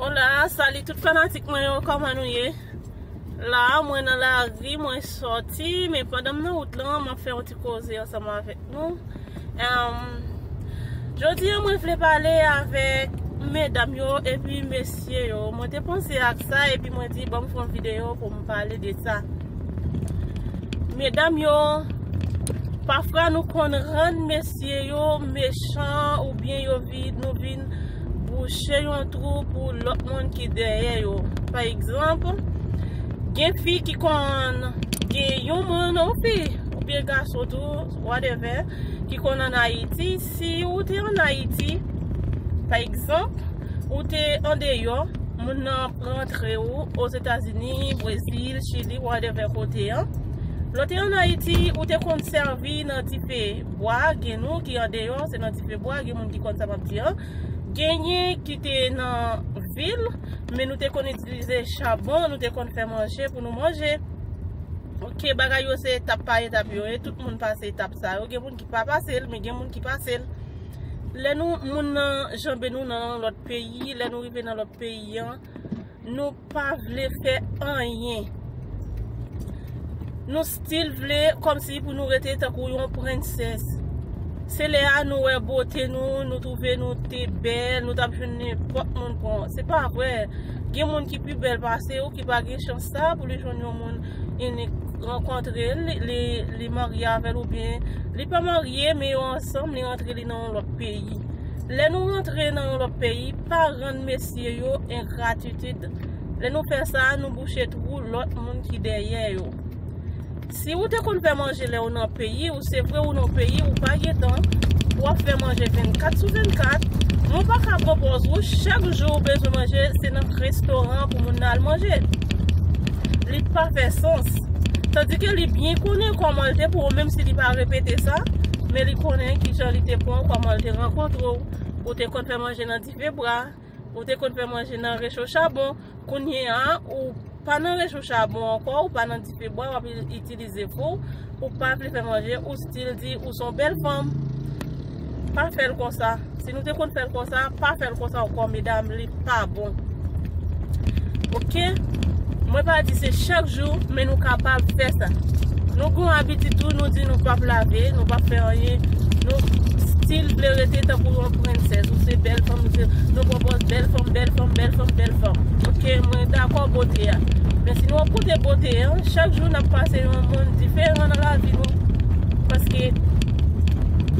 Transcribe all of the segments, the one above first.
Hola, salut tout fanatik mwen yo, kòman nou ye? La, mwen nan la ri, mwen sòti, men pandan m nan wout lan, m ap fè yon ti koze ansanm avèk nou. Jodi an mwen vle pale avèk medam yo epi mesye yo. Mwen te panse ak sa epi mwen di banm fè yon videyo pou m pale de sa. Medam yo, pafwa nou konn rann mesye yo mechan oubyen yo. rapid nou vin bouche yon twou pou lòt moun ki dèyè yo pa egzanp gen fi ki konn gen yon moun ou fi ou byen gason tou wadèvè ki konn an ayiti si ou te an ayiti pa egzanp ou te an deyò moun nan rantre ou ozetazini brezil chili wadèvè kote an lò te an ayiti ou te konn sèvi nan dife Bwa, gen nou ki andeyò, se nan dife bwa, gen moun ki konn sa m ap di an. Genyen ki te nan vil, men nou te konn itilize chabon, nou te konn fè manje pou nou manje. Ok, bagay yo se etap pa etap yo ye, tout moun pase etap sa yo. Gen moun ki pa pase l, men gen moun ki pase l. Lè nou moun nan janbe nou nan lòt peyi, lè nou rive nan lòt peyi an, Nou pa vle fè anyen. Nou stil vle kòmsi pou nou rete tankou yon prensès. Se lè a nou wè bote nou, nou twouve nou te bèl, nou tap jwenn nenpòt moun pran. Se pa vre, gen moun ki pi bèl pase ou ki pa gen chans sa pou li jwenn yon moun inik rankontre l, li marye avè l oubyen li pa marye men yo ansanm li rantre li nan yon lòt peyi. Lè nou rantre nan yon lòt peyi. pa rann mesye yo engratitid. Lè nou fè sa, nou bouche twou lòt moun ki dèyè yo. Si ou te konn fè manje lè ou nan peyi ou, se vre ou nan peyi ou pa gen tan pou wap fè manje 24 sou 24, men ou pa ka pran pòz ou, chak jou ou bezwen manje se nan restoran pou moun nan al manje. Li pa fè sans. Tandike li byen konnen kòman l te pran w menm si li pa repete sa, men li konnen kijan li te pran w, kòman l te rankontre w. ou te konn fè manje nan dife bwa, ou te konn fè manje nan recho chabon, kounye a ou pa nan recho chabon ankò, ou pa nan dife bwa, wap itilize fou, ou pa vle fè manje, ou stil di ou son bèl fanm, pa fèl konsa, si nou te konn fèl konsa, pa fèl konsa ankò medam. pa bon ok mwen pa di se chak jou men nou kapab fè sa nou gon abitid tou nou di nou pap lave nou pap fè anyen nou stil vle rete tankou yon prensèz ou se bèl fanm ou se nou pran pòz bèl fanm bèl fanm bèl fanm bèl fanm ok mwen dakò bote a men si nou ap koute bote an chak jou nap pase yon moun diferan nan lavi nou paske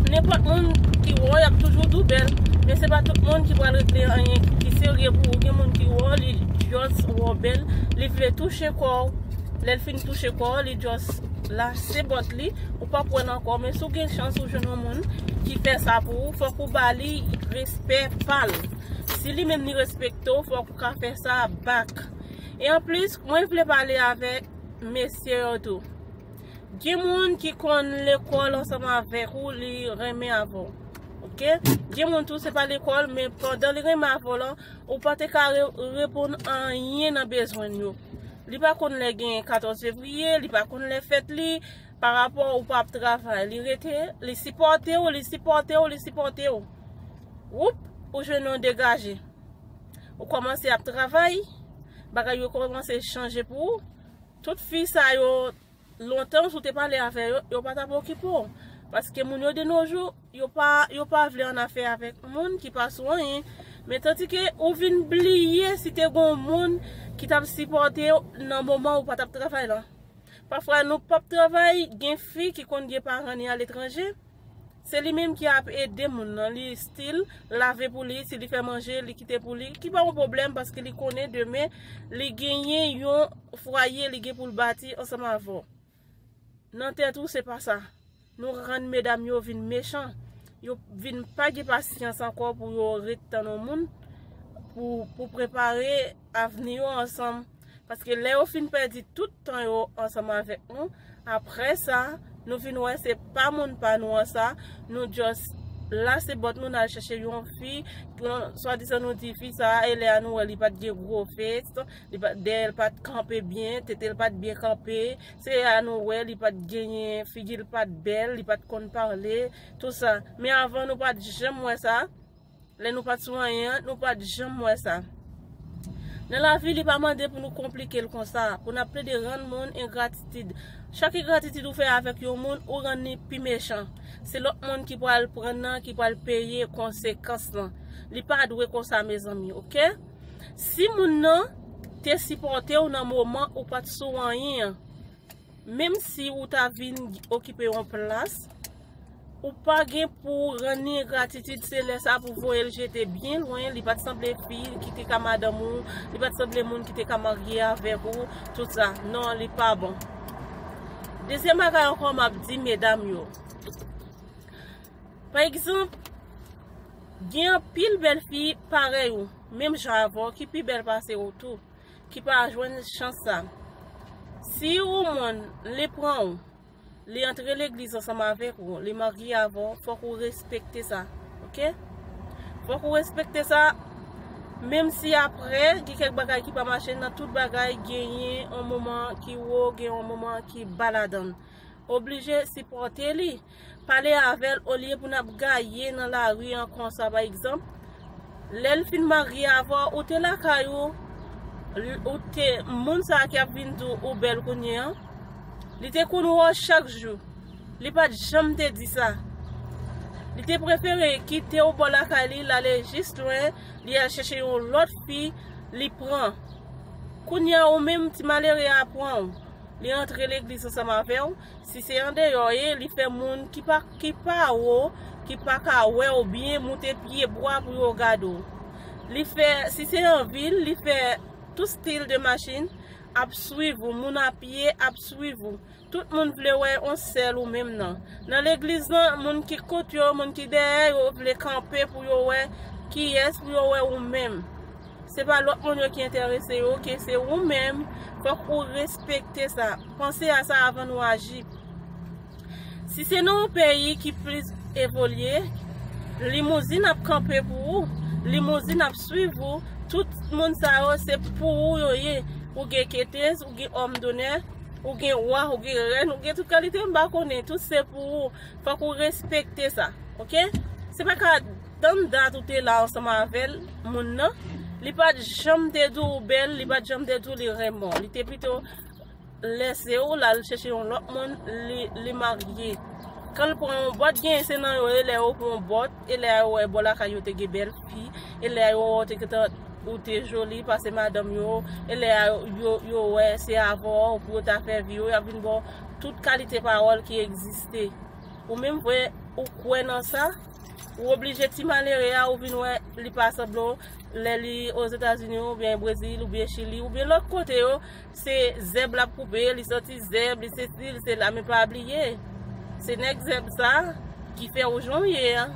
Nenpòt moun ki wè w y ap toujou di w bèl Men se pa tout moun ki pral regle anyen ki serye pou ou Gen moun ki wè w li just wè w bèl Li vle touche kò w Lè l fin touche kò w li just lase bòt li Ou p ap wè l ankò Men si w gen chans ou jwenn yon moun ki fè sa pou ou Fòk ou ba li respè pa l Si li menm li respekte w fòk ou ka fè sa back E anplis mwen vle pale avèk mesye yo tou Gen moun ki konn lekòl ansanm avèk ou li renmen avè w ok gen moun tou se pa lekòl men pandan li renmen avè w lan ou pa te ka reponn anyen nan bezwen l yo li pa konn lè gen 14 fevriye li pa konn lè fèt li pa rapò ou pa ap travay li rete li sipòte w li sipòte w li sipòte w woup ou jwenn yon degaje ou kòmanse ap travay bagay yo kòmanse chanje pou ou Tout fi sa yo lontan si w te pale avè yo, yo pa tap okipe w. Paske moun yo de no jou, yo pa yo pa vle an afè avèk moun ki pa sou anyen. Men tandike ou vin bliye si te gon moun ki tap sipòte w nan moman ou pa tap travay lan. Pafwa nou pap travay, gen fi ki konn gen paran ni aletranje. Se li menm ki ap ede moun nan li stil lave pou li si li fè manje li kite pou li ki pa yon pwoblèm paske li konnen demen li genyen yon fwaye li gen pou l bati ansanm avè w nan tèt ou se pa sa nou rann medam yo vin mechan yo vin pa gen pasyans ankò pou yo ret tann yon moun pou prepare avni yo ansanm paske lè yo fin pèdi tout tan yo ansanm avèk nou aprè sa nou vin wè se pa moun pa nou an sa nou just lase bòt nou nal chèche yon fi swa dizan nou di fi sa e lè a nou wè li pat gen gwo fes dèyè l pat kanpe byen tete l pat byen kanpe se lè a nou wè li pat genyen figi l pat bèl li pat konn pale tout sa men avan nou pat janm wè sa. Lè nou pat sou anyen an, nou pat janm wè sa. Nan lavi li pa mande pou nou konplike l konsa, pou n ap plede rann moun engratitid. Chak egratitid ou fè avèk yon moun, ou rann li pi mechan. Se lòt moun ki pral pran nan, ki pral peye konsekans lan. Li pa dwe konsa mezanmi ok. Si moun nan te sipòte w nan moman ou pat sou anyen an. Menm si ou ta vin okipe yon plas, ou pa gen pou rann li engratitid, se lè sa pou voye l jete byen lwen, li pa t sanble fi ki te ka madanm ou, li pa t sanble moun ki te ka marye avèk ou, tout sa. Non, li pa bon. Dezyèm bagay ankò m ap di medam yo, pa egzanp, gen anpil bèl fi parèy ou, menm jan avè w, ki pi bèl pase ou tou. ki pa jwenn chans sa. Si ou moun li pran ou, li antre legliz ansanm avèk ou, li marye avè ou, fòk ou respekte sa. Ok? Fòk ou respekte sa, menm si apre, gen kèk bagay ki pa mache, nan tout bagay genyen yon moman ki wo, genyen yon moman ki ba ladan. Oblije sipòte li. Pale avèl olye pou nap gaye nan lari an konsa pa egzanp lèl fin marye avèw ou te lakay ou ou te moun sa ki ap vin di ou bèl kounye an li te konn wè w chak jou li pat janm te di sa li te prefere kitew bò lakay li lale jis lwen li al chèche yon lòt fi li pran kounye a ou menm ti malere a pranw li antre legliz ansanm avèw. Si se andeyò ye li fè moun ki pa ki pa wo ki pa ka wè w byen moute pye bwa pou yo gad w. Li fè si se an vil li fè tout stil de machin ap swiv ou moun a pye ap swiv ou tout moun vle wè on sèl ou menm nan. Nan legliz lan moun ki kont yo moun ki dèyè yo vle kanpe pou yo wè kiyès pou yo wè ou menm. Se pa lòt moun yo ki enterese yo ok, se ou menm, fòk ou respekte sa. Panse a sa avan nou aji. Si se nan yon peyi ki plis evolye, limouzin ap kanpe pou ou, limouzin ap swiv ou, tout moun sa yo se pou ou yo ye. Ou gen ketez, ou gen òm donè, ou gen wa, ou gen rèn, ou gen tout kalite m pa konnen, tout se pou ou. Fòk ou respekte sa. Ok? Se pa ka. Tann dat ou te la ansanm avèl moun nan li pat janm te di ou bèl li pat janm te di ou li renmen w li te pito lèse ou lal chèche yon lòt moun li marye kan l pran yon bòt genyen se nan yo e lè yo pran yon bòt e lè a yo wè bò lakay yo te gen bèl fi e lè a yo wè ou te joli pase madanm yo e lè a yo wè se avè w pou yo ta fè vi yo yap vin ba w tout kalite pawòl ki egziste ou menm vwe ou kwè nan sa. Ou oblije ti malere a ou vin wè li pa sanble w lè li ozetazini ou byen brezil ou byen chili ou byen lòt kote yo se zèb lap koupe li santi zèb li se si li se la men pa bliye se nèg zèb sa ki fè ou jan ou ye a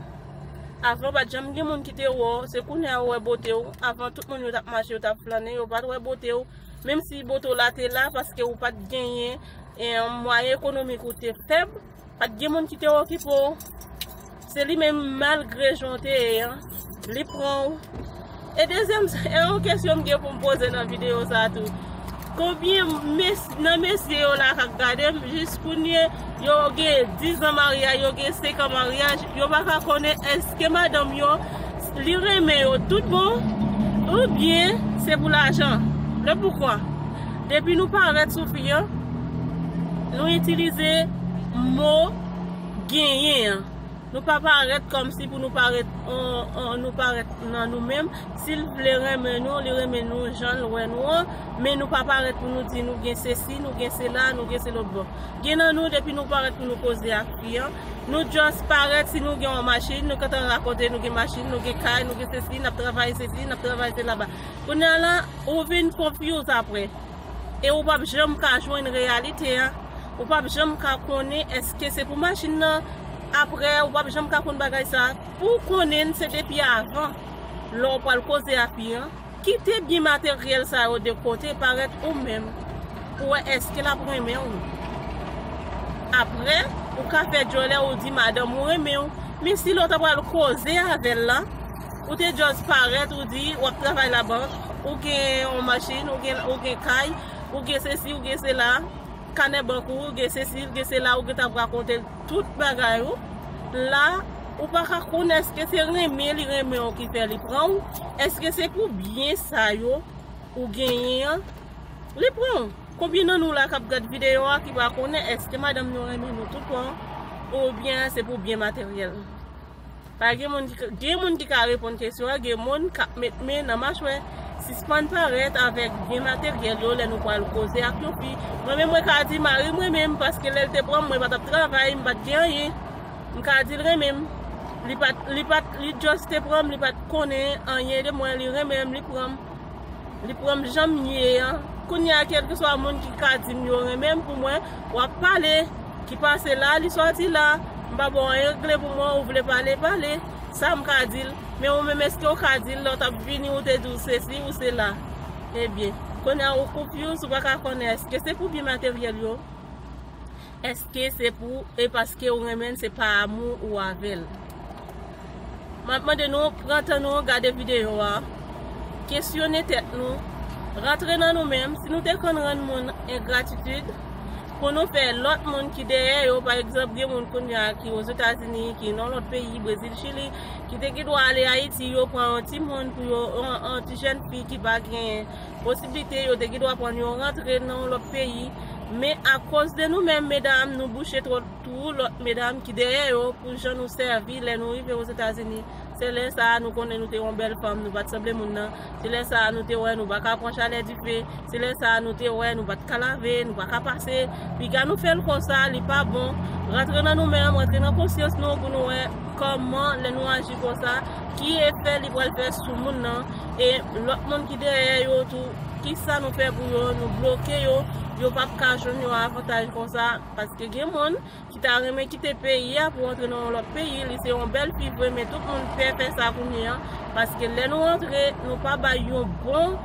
avan pat janm gen moun ki te wè w se kounye a yo wè bote w avan tout moun yo tap mache yo tap flannen yo pat wè bote w menm si bote w la te la paske ou pat genyen mwayen ekonomik ou te fèb. Pat gen moun ki te okipe w. Se li menm malgre jan w te ye an, li pran w. E dezyèm, e yon kesyon m gen pou m poze nan videyo sa a tou, konbyen nan mesye yo la k ap gade m jiskounye yo gen dizan maryaj, yo gen senkan maryaj, yo pa ka konnen èske madanm yo Li renmen yo tout bon ou byen se pou lajan? Le poukwa? Depi nou parèt sou fi an, nou itilize mo genyen an. Nou pa parèt kòmsi pou nou parèt nou parèt nan nou menm. Si l vle renmen nou, li renmen nou jan l wè nou an. Men nou pa parèt pou nou di nou gen sesi, nou gen sela, nou gen selotbo. Gen nan nou depi nou parèt pou nou koze ak fi an, Nou just parèt si nou gen yon machin, nou gentan rakonte nou gen machin, nou gen kay, nou gen sesi, nap travay sesi, nap travay sela ba. Kounya la, ou vin confuse aprè. E ou pap janm ka jwenn reyalite a. Ou pap janm ka konnen eske se pou machin nan, aprè ou pap janm ka konn bagay sa. Pou konnen se depi avan, lè ou pral koze ak li an. Kite byen materyèl sa yo de kote parèt ou menm pou wè èske l ap renmen w. Apre, ou ka fè djòlè ou di madanm ou renmen w, men si lè w ta pral koze avè l la, ou te just parèt ou di w ap travay labank, ou gen yon machin, ou gen kay, ou gen sesi, ou gen sela, kanè bank ou, ou gen sesi, ou gen sela, ou gentan ap rakonte l Tout bagay ou la ou pa ka konnen eske se renmen li renmen w ki fè li pran w, eske se pou byen sa yo ou genyen an li pran w. Konbyen nan nou la kap gad videyo a ki pa konnen eske madanm nou renmen nou tout bon ou byen se pou byen materyèl. Pa gen moun ki ka, gen moun ki ka reponn kesyon an, gen moun kap met men nan machwè, sispann parèt avèk byen materyèl yo lè nou pral koze ak yon fi, mwen menm mwen ka di mari m renmen m paske lèl te pranm mwen pa tap travay, m pat gen anyen, m ka dil renmen m, li pat, li pat, li just te pranm li pat konnen anyen de mwen, li renmen m, li pranm. Li pranm janm ye an. Kounya kelkeswa moun ki ka dim yo renmen m pou mwen wap pale ki pase la li soti la m pa baw anyen regle pou mwen ou vle pale pale sam ka dil men ou menm eskew ka dil lèw tap vini ou te diw sesi ou sela ebyen kounya ou konfuse ou paka konnen eske se pou byen materyèl yo. Eske se pou e paske ou renmenl se pa amou ou avel Map mande nou pran tan nou gade video a kesyone tèt nou rantre nan nou menm si nou te konn rann moun engratitud pou nou fè lòt moun ki dèyè yo pa egzanp gen moun kounya ki ozetazini ki nan lòt peyi brezil chili ki te gen dwa ale ayiti yo pran yon timoun pou yo yon ti jèn fi ki pa gen Posiblite yo te gen dwa pran yon rantre nan yon lòt peyi, men akoz de nou menm medam nou bouche twòp twou lòt medam ki dèyè yo pou jan nou sèvi lè nou rive Ozetazini, se lè sa a nou konnen nou te yon bèl fanm nou pa t sanble moun nan, se lè sa a nou te wè nou pa ka pran chalè dife, se lè sa a nou te wè nou pa t ka lave, nou pa ka pase, piga nou fè l konsa li pa bon, rantre nan nou menm, rantre nan konsyans nou pou nou wè kòman lè nou aji konsa ki efè li pral fè sou moun nan. E lòt moun ki dèyè yo tou, kisa nou pè pou yo, nou bloke yo, yo pap ka jwenn yon avantaj konsa, paske gen moun ki ta renmen kite peyi a pou antre nan yon lòt peyi, li se yon bèl fi vre men tout moun pè fè sa kounye an, paske lè nou antre nou pa bay yon bon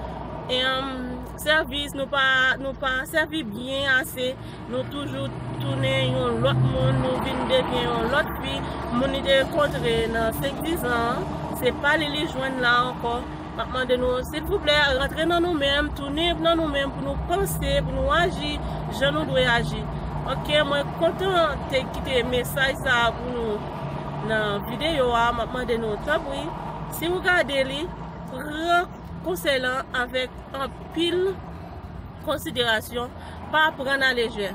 sèvis, nou pa sèvi byen ase. Nou toujou tounen yon lòt moun, nou vin devyen yon lòt fi. Moun li te rankontre nan senkdizan an, se pa li li jwenn la ankò. M ap mande nou, silvouplè, rantre nan nou menm, tounen nan nou menm pou nou panse, pou nou aji jan nou dwe aji. Ok, mwen kontan te kite mesaj sa a pou nou nan videyo a. M ap mande nou, tanpri, si ou gade li, pran konsèy lan avèk anpil konsiderasyon. Pa pran a lejè.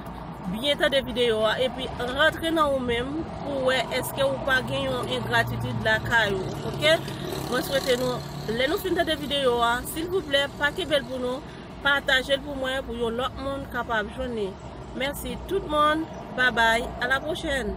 Byen tande videyo a epi rantre nan ou menm pou w wè èske ou pa gen yon engratitid lakay ou ok. Mwen swete nou lè nou fin tande videyo a silvouplè pa kenbe l pou nou pataje l pou mwen pou yon lòt moun kapab jwenn li. Mèsi tout moun. Babay a la pwochèn.